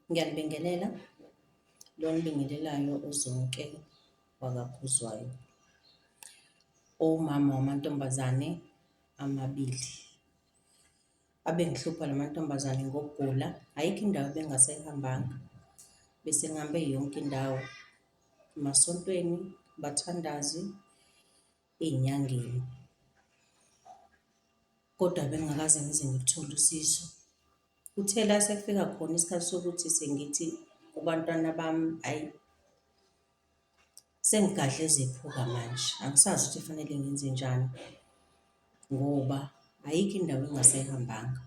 Ngiyanibingelela, lo onibingelelayo uZonke wakaKhuzwayo. Uwumama wamantombazane amabili. Abengihlupha la mantombazane ngokugula, ayikho indawo ebengasayihambanga. Bese ngihambe yonke indawo, emasontweni, abathandazi, ey'nyangeni kodwa bengingakaze ngize ngithole usizo. Kuthe la sekufika khona isikhathi sokuthi sengithi kubantwana bami, ayi sengigadle ezephuka manje, angisazi ukuthi kufanele ngenzenjani ngoba ayikho indawo engingasayihambanga.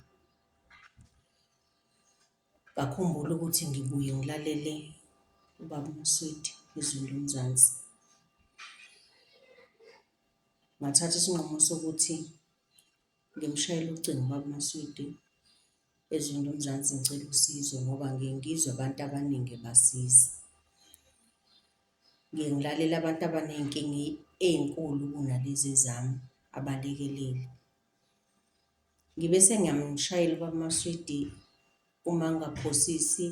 Ngakhumbula ukuthi ngibuye ngilalele uBaba uMswidi izwi loMzansi. Ngathatha isinqumo sokuthi ngimshayele ucingo uBaba uMswidi ezwini loMzansi ngicela usizo ngoba ngiye ngizwe abantu abaningi ebasiza. Ngiye ngilalele abantu abaney'nkinga ey'nkulu kunalezi ezami abalekeleli. Ngibe sengiyamshayela ubaba Maswidi uma angaphosisi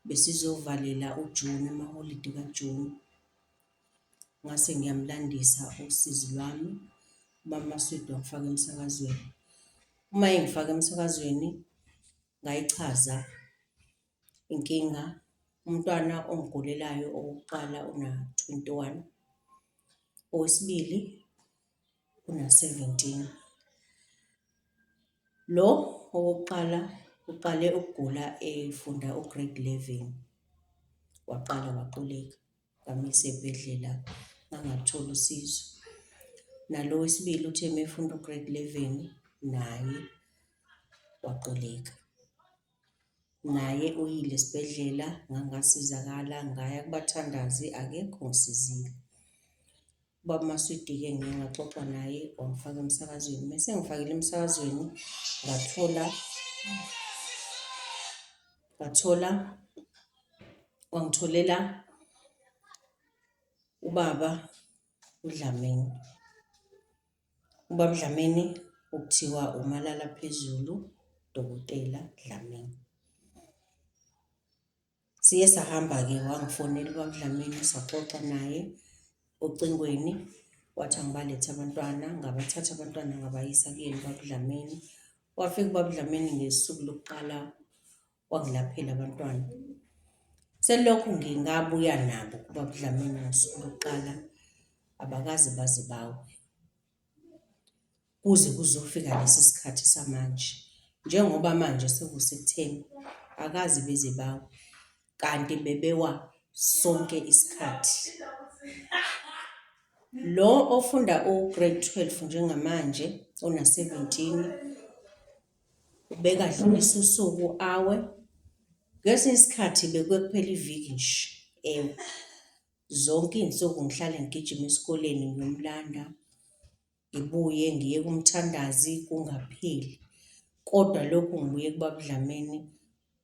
besizovalela uJuni amaholidi kaJuni. Ngase ngiyamulandisa usizi lwami, ubaba Maswidi wangifaka emsakazweni. Uma engifaka emsakazweni ngayichaza inkinga, umntwana ongigulelayo owokuqala una-twenty one, owesibili una-17. Lo owokuqala uqale ukugula efunda u-grade 11, waqala waquleka bamyisa ey'bhedlela angaluthola usizo. Nalo wesibili uthe uma efunda u-grade 11 naye waquleka. Naye uyile esibhedlela ngangasizakala ngaya kubathandazi akekho ongisizile. Ubaba Maswidi-ke ngiye ngaxoxa naye wangifaka emsakazweni. Mese ngifakile emsakazweni ngathola ngathola wangitholela ubaba uDlamini. Ubaba uDlamini okuthiwa umalala phezulu, Dokotela Dlamini. Siye sahamba-ke wangifonela uBabDlamini saxoxa naye ocingweni, wathi angibalethe abantwana, ngabathatha abantwana ngabayisa kuyena uBabDlamini. Wafika uBabDlamini ngesuku lokuqala wangilaphela abantwana. Selokhu ngingabuya nabo kuBabDlamini ngosuku lokuqala abakaze baze bawe. kuze kuzofika lesi sikhathi samanje njengoba manje sekusekutheni akaze beze bawe kanti bebewa sonke isikhathi. Lo ofunda u-grade twelve njengamanje ona-seventeen ubekadlulisa usuku awe, ngesinye isikhathi bekuke kuphele iviki nje ewe. Zonke iy'nsuku ngihlale ngigijima esikoleni ngiyomlanda, ngibuye ngiye kumthandazi kungapheli. Kodwa lokhu ngibuye kubaba uDlamini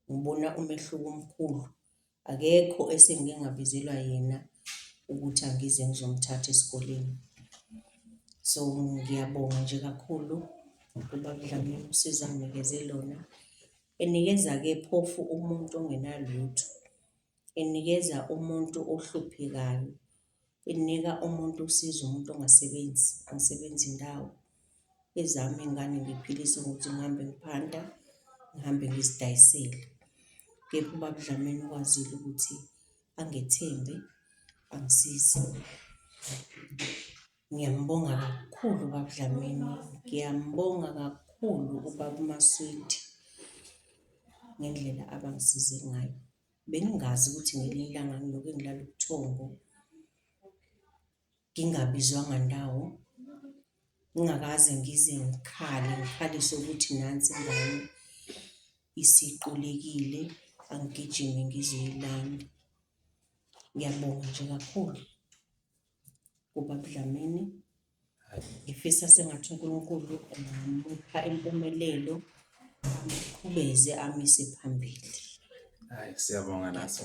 ngibona umehluko omkhulu, akekho esengike ngabizelwa yena ukuthi angize ngizomthatha esikoleni. So ngiyabonga nje kakhulu kubaba uDlamini usizo anginikeze lona, enikeza-ke phofu umuntu ongenalutho. inikeza umuntu ohluphekayo, inika umuntu usizo umuntu ongasebenzi, angisebenzi indawo. Ezami iy'ngane ngiphilise ngokuthi ngihambe ngiphanta, ngihambe ngizidayisele. Kepha ubaba uDlamini ukwazile ukuthi angethembe, angisize. Ngiyambonga kakhulu ubaba uDlamini, ngiyambonga kakhulu ubaba uMaswidi ngendlela abangisize ngayo. Bengingazi ukuthi ngelinye ilanga ngiyoke ngilale ubuthongo, ngingabizwanga ndawo, ngingakaze ngize ngikhale ngikhalise ukuthi nansi ingane isiqulekile angigijime ngizoyilanda. Ngiyabonga nje kakhulu kuBaba uDlamini. Ngifisa sengathi uNkulunkulu angamupha impumelelo, amqhubeze amise phambili. Hayi siyabonga naso.